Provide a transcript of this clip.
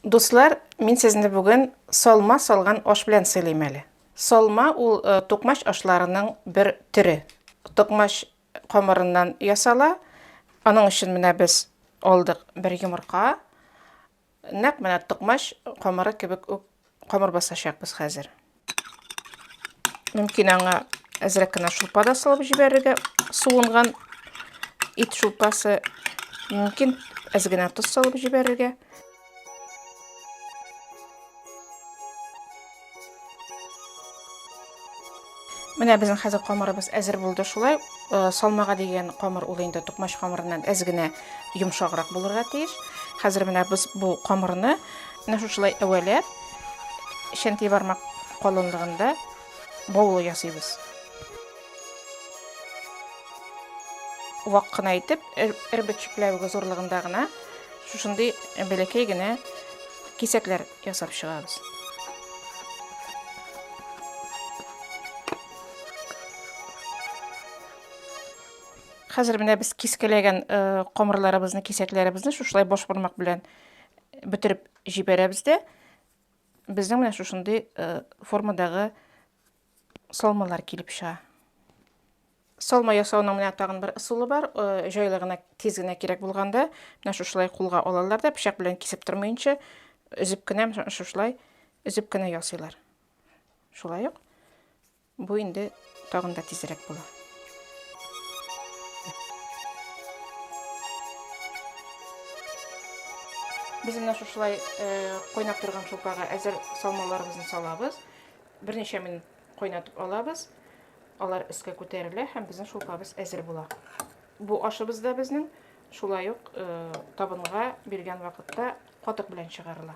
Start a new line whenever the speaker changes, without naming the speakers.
Дуслар, мин сезне бүген салма салган аш белән сыйлыйм әле. Салма ул токмач ашларының бер төре. Токмач камырыннан ясала. Аның өчен менә без алдык бер йомырка. Нәкъ менә токмач камыры кебек үк камыр басачакбыз хәзер. Мөмкин аңа әзрәк кенә шулпа да салып җибәрергә. Суынган ит шулпасы. Мөмкин әз генә тоз салып җибәрергә. Менә безнең хәзер камырыбыз әзер булды шулай. Э, салмага дигән камыр ул инде тукмач камырыннан әз генә йомшаграк булырга тиеш. Хәзер менә без бу камырны Менә шушылай әвәләп чәнти бармак калынлыгында баулы ясыйбыз. Вак кына итеп, эрбет чүпләвеге зурлыгында гына шушындый бәләкәй генә кисәкләр ясап чыгабыз. Хәзер менә без кискәләгән камырларыбызны, кисәкләребезне шушылай баш бармак белән Бетереп җибәрәбез дә безнең менә шушындый формадагы салмалар килеп чыга. Салма ясауның менә тагын бер ысулы бар. Җайлы гына, тиз генә кирәк булганда, менә шушылай кулга алалар да, пычак белән кисеп тормыйнча, өзеп кенә шушылай, өзеп кенә ясыйлар. Шулай ук Бу инде тагын да тизрәк була. Без менә шушылай кайнап торган шулпага әзер салмаларыбызны салабыз. Берничә минут кайнатып алабыз. Алар өскә күтәрелә һәм безнең шулпабыз әзер була. Бу ашыбыз да безнең шулай ук табынга биргән вакытта катык белән чыгарыла.